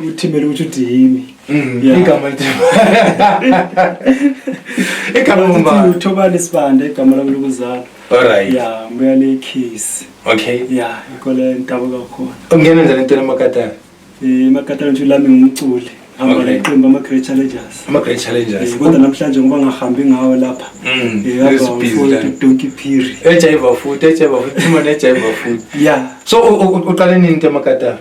uthimela ukuthi uthi yimi mm, igama igama umbani uthobani sibanda igama lami lokuzalwa alright ya mbuya le kiss okay ya ikole ntabo kakhona ungena njani entweni emakatana eh, emakatana nje lami ngumculi hamba neqembu ama-great challengers ama-great challengers eh, kodwa namhlanje ngoba ngahambi ngawo lapha mm, eh, donki phiri ejayiva futhi ejayiva futhi imane ejayiva futhi ya so uqale nini into emakatana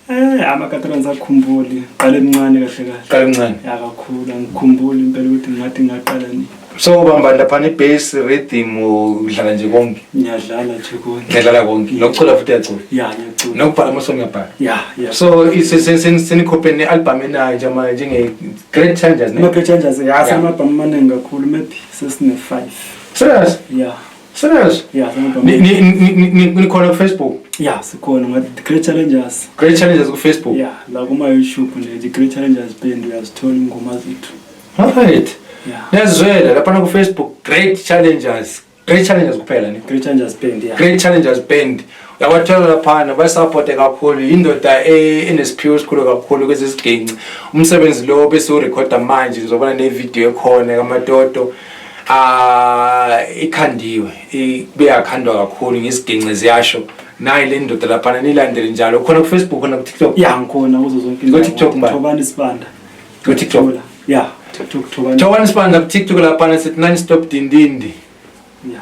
Eh amakatolans akhumbuli qale mncane kahle kahle. Qale mncane. Ya kakhulu angikhumbuli impela ukuthi ngathi ngaqala nini. So ubamba lapha ne bass rhythm udlala nje konke. Ngiyadlala nje konke. Ngiyadlala konke. Nokucula futhi uyacula. Ya ngiyacula. Nokubhala ama song yabhala. Ya ya. So senikhophe ne album enayo nje manje njenge Great Changers ne. Great Changers ya sama album maningi kakhulu maybe sesine 5. Serious? Ya. Serious? Yeah, ni ni ni ni ni khona ku Facebook? Yeah, sikhona ngathi the Great Challengers. Great Challengers ku Facebook? Yeah, la kuma YouTube ne the Great Challengers band uyazithola ingoma zethu. Alright. Yeah. Nezwela lapha na ku Facebook Great Challengers. Great Challengers kuphela ne. Great Challengers band, yeah. Great Challengers band. yabathola laphana bayisapote kakhulu yindoda e- enesiphiwo esikhulu kakhulu kwezi ziginci umsebenzi lo besiwurekhoda manje ngizobona nevidiyo ekhona kamatoto um ikhandiwe beyakhandwa kakhulu ngisiginci ziyasho nayi le ndoda laphana nilandele njalo khona kufacebook khona kutiktok ya ngikhona kuzo zonke ngotiktok thobani isibanda ngotiktok ya tiktok thobani thobani isibanda kutiktok laphana sithi nani stop dindindi ya